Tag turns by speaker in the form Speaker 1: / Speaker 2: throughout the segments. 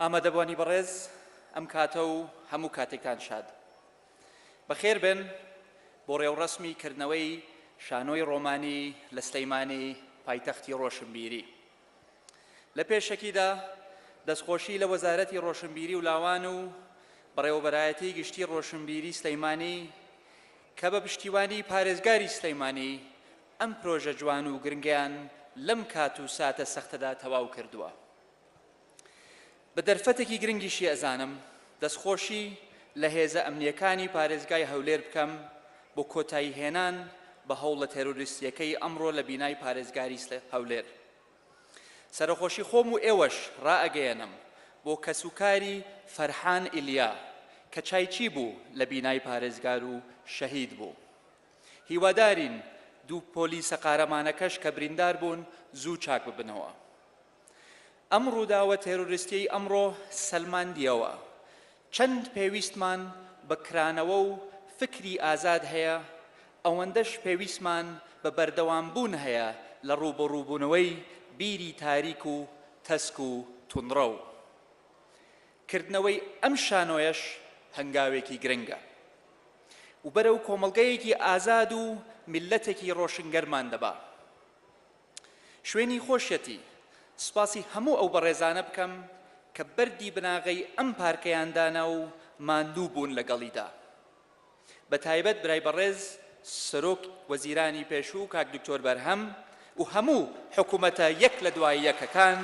Speaker 1: ئامادەبوانی بەڕێز ئەم کاتە و هەموو کاتێکتان شاد بەخێر بێن بۆ ڕێوڕەسمی کردنەوەی شانۆی ڕۆمانی لە سلەیمانی پایتەختی ڕۆشنبیری لە پێشەکیدا دەستخۆشی لە وەزارەتی ڕۆشنبیری و لاوان و بەڕێوەبەرایەتی گشتی ڕۆشنبیری سلەیمانی کە بە پشتیوانی پارێزگاری سلەیمانی ئەم پرۆژە جوان و گرنگیان لەم کات و ساتە سەختەدا تەواو کردووە. بە دەرفەتێکی گرنگیشی ئەزانم دەستخۆشی لە هێزە ئەمنییەکانی پارێزگای هەولێر بکەم بۆ کۆتایی هێنان بە هەوڵە تێرۆریستییەکەی ئەمڕۆ لە بینای پارێزگاری هەولێر. سەرەخۆشی خۆم و ئێوەش ڕائەگەیەنم بۆ کەسوکاری فەرحان ئیلیا کە چایچی بوو لە بینای پارێزگار و شەهید بوو. هیوادارین دوو پۆلیسە قارەمانەکەش کە بریندار بوون زوو چاک ببنەوە. ئەم ڕووداوە تێرۆریستیەی ئەمڕۆ سەلماندیەوە چەند پێویستمان بە کرانەوە و فکری ئازاد هەیە، ئەوەندەش پێویستمان بە بەردەوامبوون هەیە لە ڕووبەڕووبوونەوەی بیری تاریک و تەسک و توندڕەو. کردنەوەی ئەم شانۆیەش هەنگاوێکی گرنگە و بەرەو کۆمەڵگەیەکی ئازاد و میللەتێکی ڕۆشنگەرمان دەبا. شوێنی خۆشیەتی سوپاسی هەموو ئەو بەڕێزانە بکەم کە بەردی بناغەی ئەم پارکەیان دانا و ماندوو بوون لەگەڵیدا بە تایبەت برای بەڕێز سەرۆک وەزیرانی پێشوو کاک دکتۆر بەرهەم و هەموو حکومەتە یەک لە دوای یەکەکان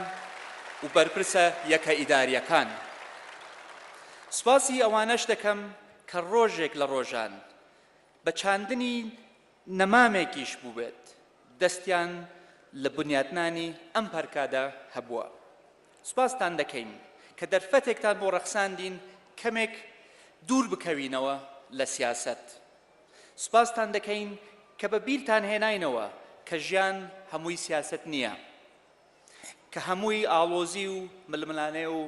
Speaker 1: و بەرپرسە یەکە ئیداریەکان سوپاسی ئەوانەش دەکەم کە ڕۆژێک لە ڕۆژان بە چاندنی نەمامێکیش بووبێت دەستیان لە بنیاتنانی ئەم پەرکادە هەبووە. سوپاستان دەکەین کە دەرفەتێکتان بۆ ڕەخساندین کەمێک دوور بکەوینەوە لە سیاسەت. سوپاستان دەکەین کە بە بیرتان هێناینەوە کە ژیان هەمووی سیاسەت نییە. کە هەمووی ئاڵۆزی و ململانێ و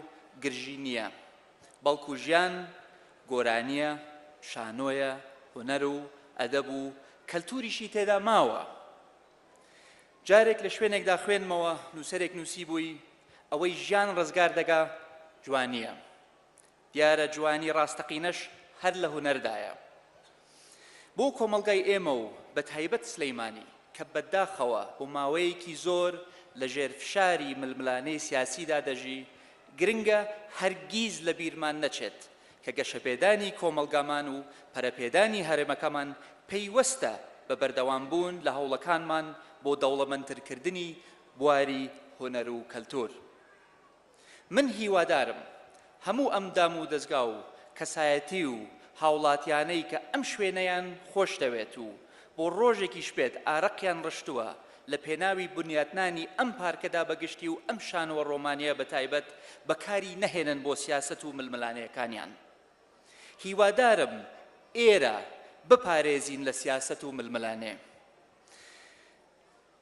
Speaker 1: گرژی نییە، بەڵکو ژیان گۆرانییە، شانۆیە، هونەر و ئەدەب و کەلتوریشی تێدا ماوە. جارێک لە شوێنێکدا خوێندمەوە، نووسەرێک نووسیبووی، ئەوەی ژیان ڕزگار دەکا جوانییە. دیارە جوانی ڕاستەقینەش هەر لە هونەردایە. بۆ کۆمەڵگای ئێمە و بە تایبەت سلەیمانی کە بە داخەوە بۆ ماوەیەکی زۆر لە ژێر فشاری ململانێی سیاسیدا دەژی، گرنگە هەرگیز لە بیرمان نەچێت کە گەشەپێدانی کۆمەڵگامان و پەرەپێدانی هەرێمەکەمان پەیوەستە بە بەردەوام بوون لە هەوڵەکانمان بۆ دەوڵەمەندترکردنی بواری هونەر و کەلتور. من هیوادارم هەموو ئەم دام و دەزگا و کەسایەتی و هاوڵاتیانەی کە ئەم شوێنەیان خۆش دەوێت و بۆ ڕۆژێکیش بێت ئارەقیان ڕشتووە لە پێناوی بنیاتنانی ئەم پارکەدا بە گشتی و ئەم شانۆ ڕۆمانیە بە تایبەت بە کاری نەهێنن بۆ سیاسەت و ململانێکانیان هیوادارم ئێرە بپارێزین لە سیاسەت و ململانێ.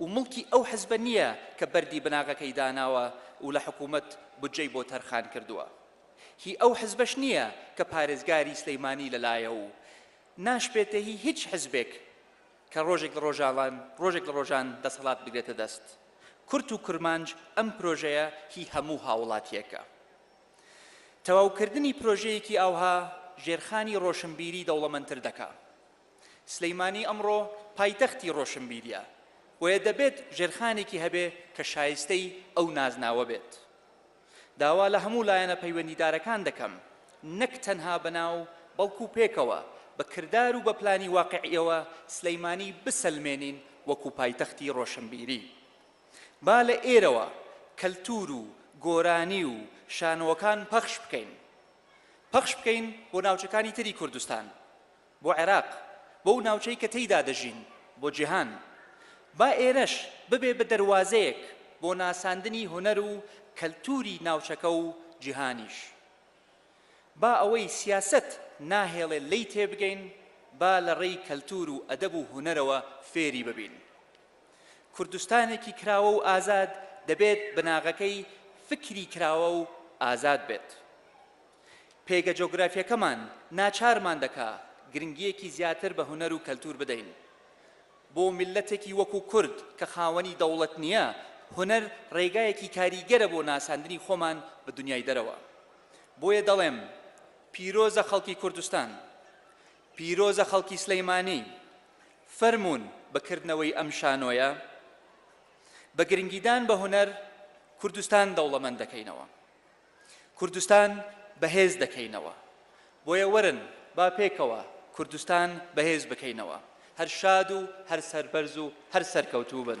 Speaker 1: و موڵکی ئەو حزبە نییە کە بەردی بناغەکەی داناوە و لە حکوومەت بودجەی بۆ تەرخان کردووە. هی ئەو حزبەش نییە کە پارێزگاری سلەیمانی لە لایە و ناشبێتە هی هیچ حزبێک کە ڕۆژێک لە ڕۆژاڵان ڕۆژێک لە ڕۆژان دەسەڵات بگرێتە دەست. کورت و کرمانج ئەم پرۆژەیە هی هەموو هاووڵاتییەکە. تەواوکردنی پرۆژەیەکی ئاوها ژێرخانی ڕۆشنبیری دەوڵەمەندتر دەکا. سلیمانی ئەمڕۆ پایتەختی ڕۆشنبیریە، بۆیە دەبێت ژێرخانێکی هەبێ کە شایستەی ئەو نازناوە بێت. داوا لە هەموو لایەنە پەیوەندیدارەکان دەکەم نەک تەنها بە ناو بەڵکو پێکەوە بە کردار و بە پلانی واقعیەوە سلیمانی بسەلمێنین وەکو پایتەختی ڕۆشنبیری. با لە ئێرەوە کەلتور و گۆرانی و شانۆکان پەخش بکەین. پەخش بکەین بۆ ناوچەکانی تری کوردستان. بۆ عێراق، بۆو ناوچەی کە تێیدا دەژین، بۆ جیهان. با ئێرەش ببێ بە دەروازەیەک بۆ ناساندنی هونەر و کەلتوری ناوچەکە و جیهانیش. با ئەوەی سیاسەت ناهێڵێ لێی تێبگەین، با لە ڕێی کەلتور و ئەدەب و هونەرەوە فێری ببین. کوردستانێکی کراوە و ئازاد دەبێت بناغەکەی فکری کراوە و ئازاد بێت. پێگە جۆگرافیەکەمان ناچارمان دەکا گرنگیەکی زیاتر بە هونەر و کەلتور بدەین. بۆ میللەتێکی وەکو کورد کە خاوەنی دەوڵەت نیە، هونەر ڕێگایەکی کاریگەرە بۆ ناساندنی خۆمان بە دونیای دەرەوە. بۆیە دەڵێم پیرۆزە خەڵکی کوردستان، پیرۆزە خەڵکی سلیمانی، فەرموون بە کردنەوەی ئەم شانۆیە، بە گرنگیدان بە هونەر کوردستان دەوڵەمەند دەکەینەوە. کوردستان بەهێز دەکەینەوە بۆیە وەرن با پێکەوە کوردستان بەهێز بکەینەوە هەر شاد و هەر سەربەرز و هەر سەرکەوتوو بن.